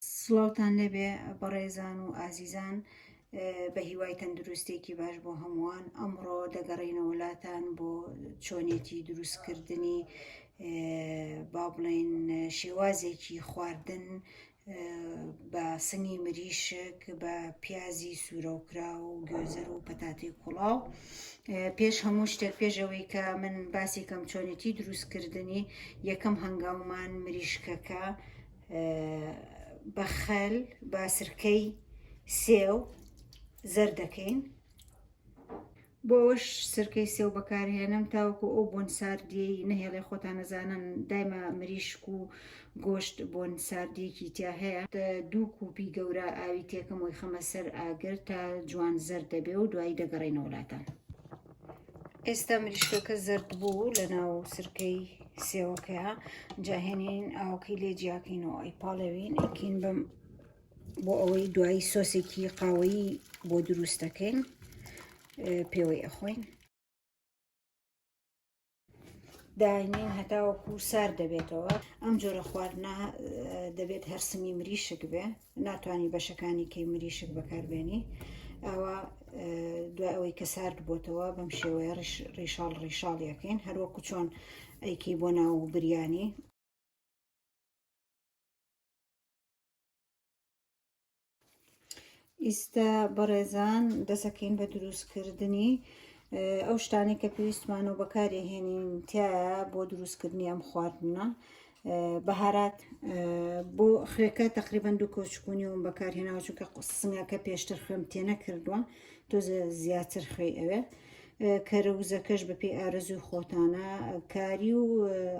سڵاوتان لێبێ بەڕێزان و ئازیزان بە هیوای تەندروستێکی باش بۆ هەمووان ئەمڕۆ دەگەڕینەوە لاتان بۆ چۆنێتی دروستکردنی با بڵێن شێوازێکی خواردن بە سنگی مریشک بە پیازی سوورەوکرا و گوێزەر و پەتاتی کوڵاو پێش هەموو شتێک پێشەوەی کە من باسی کەم چۆنێتی دروستکردنی یەکەم هەنگاومان مریشکەکە بە خەل بە سرکەی سێو زەر دەکەین بۆش سرکەی سێو بەکارهێنم تاوەکو ئەو بۆن ساردی نەهێڵێ خۆتان نەزانن دایمە مریشک و گۆشت بۆن ساردێکی تیا هەیە دوو کوپی گەورە ئاوی تێکەم وی خەمە سەر ئاگر تا جوان زەر دەبێ و دوایی دەگەڕێنەوەلاتان. ئێستا مریشکەکە زرد بوو لە ناو سرکەی سێوەکەیە جاهێنین ئاوەکەی لێ جیاکەینەوە ئەی پاڵێوین ئەکین بم بۆ ئەوەی دوایی سۆسێکی قاوەیی بۆ دروست دەکەین پێوەی ئەخۆین داینین هەتاوەکو سار دەبێتەوە ئەم جۆرە خواردنا دەبێت هەرسنی مریشک بێ ناتوانی بەشەکانی کەی مریشک بەکاربێنی ئەوە دوای ئەوەی کە سارد بۆتەوە بەم شێوەیە ڕیشاڵ ڕیشاڵ یەکەین هەروەکو چۆن ئەیکی بۆ ناو و بریانی ئیستا بەڕێزان دەسەکەین بە دروستکردنی ئەو شتانی کە پێویستمان و بەکارێهێنین تایە بۆ دروستکردنی ئەم خواردنە بەهارات بۆ خوێکە تقریبان دوو کۆچکونی وم بەکارهێناوە چونکە قسنگەکە پێشتر خوێم تێنە کردووە تۆزە زیاتر خوێ ئەوێ کەرەوزەکەش بەپی ئارەزوی خۆتانە کاری و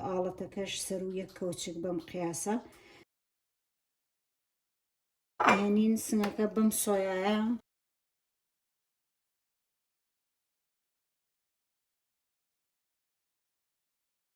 ئاڵەتەکەش سەر و یەک کەوچک بەم قیاسە هێنین سنگەکە بەم سۆیایە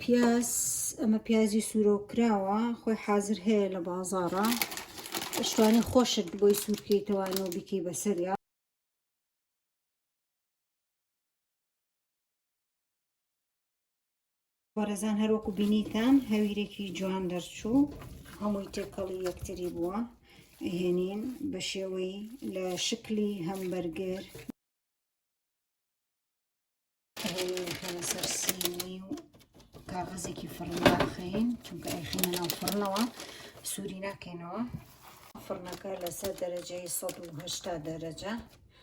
پیاز ئەمە پیازی سوورۆکراوە خۆی حازر هەیە لە بازاڕە شتوانی خۆشت بۆی سوورکەیتەوەەوە بیکەی بەسەریا بەڕێزان هەروەکو بینیتان هەویرێکی جوان دەرچوو هەمووی تێکەڵی یەکتری بووە هێنین بە شێوەی لە شکلی هەمبەرگر کاغەزێکی فڕن داخەین چونکە ئەیخینە ناو فڕنەوە سووری ناکەینەوە فڕنەکە لەسەر دەرەجەی 1970 دەرەجە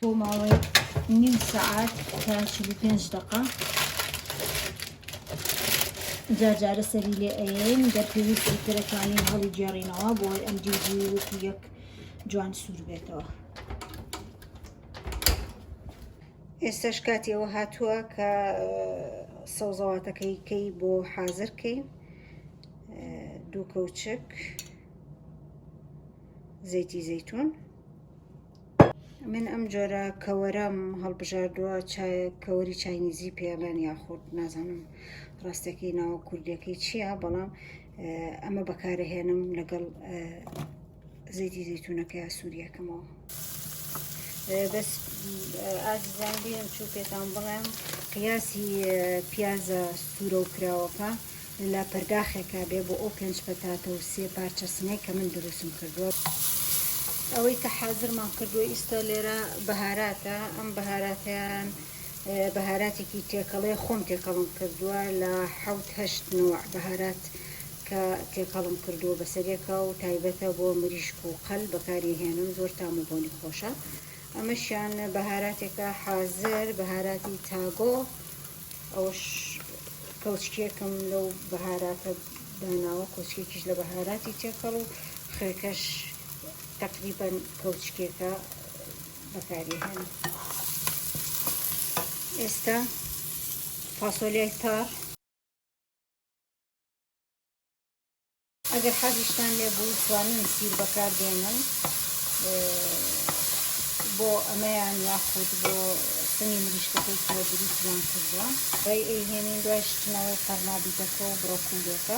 بۆ ماوەی نیم سعات تا 45 دقا جارجارە سەری لێ ئەین گەر پێویستی ترەکانی هەڵی گێڕینەوە بۆی ئەم دیجی وەک یەک جوان سوور بێتەوە ئێستاش کاتی ئەوە هاتووە کە سەوزەواتەکەی کەی بۆ حازر کەین دوو کەوچک زەیتی زەیتون من ئەم جۆرە کەوەرەم هەڵبژاردووە کەوەری چاینیزی پێڵێن یاخود نازانم ڕاستەکەی ناوە کوردیەکەی چییە بەڵام ئەمە بەکارەهێنم لەگەڵ زەیتی زەیتونەکە یا سووریەکەمەوە بەس ئازیزان بیرم چوو پێتان بڵێم قیاسی پیازە سوورە و کراوەکە لە پەرداخێکا بێ بۆ ئەو پێنج پەتاتە و سێ پارچە سنەی کە من دروستم کردووە ئەوەی کە حازرمان کردووە ئیستا لێرە بەهاراتە ئەم بەهاراتیان بەهاراتێکی تێکەڵەیە خۆم تێکەڵم کردووە لە حەوت هەشت نەوع بەهارات کە تێکەڵم کردووە بەسەرێکە و تایبەتە بۆ مریشک و قەل بەکاری هێنم زۆر تام و بۆنی خۆشە ئەمەشیان بەهاراتێکە حازر بەهاراتی تاگۆ ئەوش کەوچکێکم لەو بەهاراتە داناوە کۆچکێکیش لە بەهاراتی تێکەڵ و خێکەش تقریبا کەوچکێکە بەکاری هێن ئێستا فاسۆلیای تار ئەگەر حەزیشتان لێ بوو توانن سیر بەکار دێنن بۆ ئەمەیان یاخود بۆ سنی مریشکەکەی کە دروستیان کردووە ڕێ ئەیهێنین دوای شتنەوەی قەرنابیتەکە و بڕۆکولێکە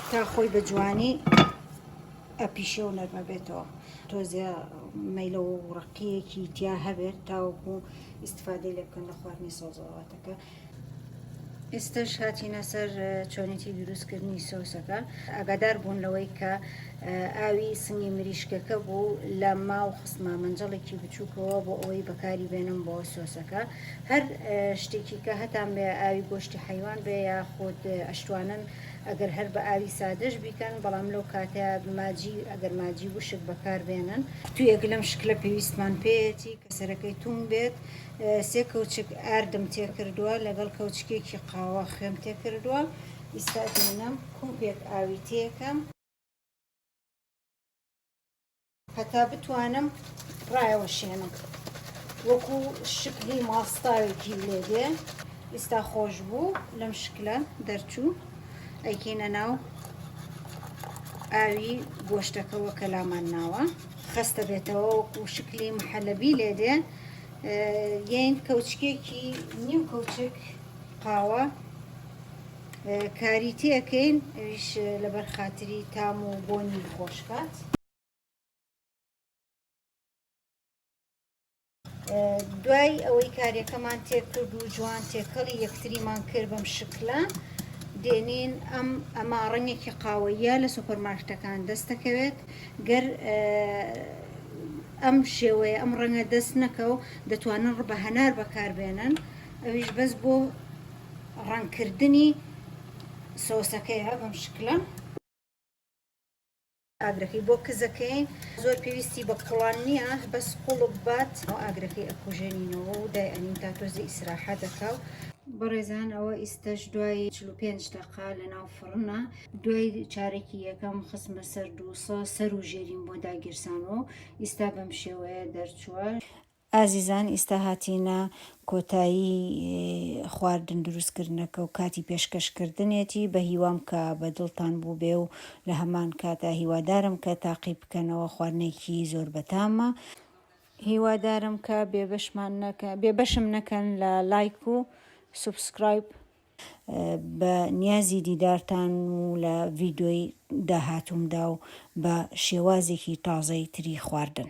تا خۆی بە جوانی ئەپیشێ و نەرمە بێتەوە تۆزێ مەیلە و ڕقیەکی تیا هەبێت تاوەکو ئیسفادەی لێ بکەن لە خواردنی سەوزەواتەکە. ئێستش هاتینە سەر چۆنێتی دروستکردنی سۆسەکە ئاگادار بوون لەوەی کە ئاوی سنگی مریشکەکە بوو لە ماو خستمە منجەڵێکی بچووکەوە بۆ ئەوەی بەکاری بێنم بۆ سۆسەکە هەر شتێکی کە هەتان بێ ئاوی گۆشتی حیوان بێ یا خۆت ئەشتوانن ئەگەر هەر بە ئاوی سادەش بیکەن بەڵام لەو کاتەیا ماجی ئەگەر ماجی وشک بەکار بێنن. تویەک لەم شکلە پێویستمان پێیەتی کە سەرەکەی توند بێت، سێ کەوچک ئاردم تێکردوە لەگەڵ کەوچکێکی قاوە خوێم تێکردوە، ئیستا دێنم کوپێک ئاوی تێکەم، هەتا بتوانم ڕایەوەشێنم وەکو شکلی ماستاوێکی لێ دێ ئیستا خۆش بوو لەم شکلە دەرچوو ئەیکەینە ناو ئاوی گۆشتەکەەوە کە لامان ناوە خستە بێتەوە وەکو شکلی محەلەبی لێ دێ یین کەوچکێکی نیو کەوچک قاوە کاری تێ ئەکەین ئەویش لەبەر خاتری تام و بۆنی خۆشکات دوای ئەوەی کارەکەمان تێکرد و جوان تێکەڵی یەکتریمان کرد بەم شکلە دێنین ئەم ئەما ڕەنگێکی قاوەیە لە سوپەرمارکتەکان دەستەکەوێت گەر ئەم شێوەیە ئەم ڕەنگە دەست نەکە و دەتوانن ڕبە هەنار بەکاربێنن ئەویش بەس بۆ ڕەنگکردنی سۆسەکەیە بەم شکلە. ئاگرەکەی بۆ کزەکەین زۆر پێویستی بە کوڵان نییە بەس قوڵک بات ئەو ئاگرەکەی ئەکوژێنینەوە و دایئەنین تا تۆزی ئیسراحە دەکا و بەڕێزان ئەوە ئیستەش دوای 45 دقا لە ناو فڕنە دوای چارێکی یەکەم خسمە سەر دووسە سەر و ژێریم بۆ داگیرسانەوە ئیستا بەم شێوەیە دەرچووە ئازیزان ئیستا هاتینە کۆتایی خواردن دروست کردنەکە و کاتی پێشکەش کردنێتی بە هیوام کە بە دڵتان بووبێ و لە هەمان کاتا هیوادارم کە تاقی بکەنەوە خواردنێکی زۆر بەتامە هیوادارم کە بێ بەشمان نەکە بێ بەشم نەکەن لە لایک و سوبسکرایب. بە نیازی دیدارتان و لە ڤیدۆی داهاتوومدا و بە شێوازێکی تازەی تری خواردن.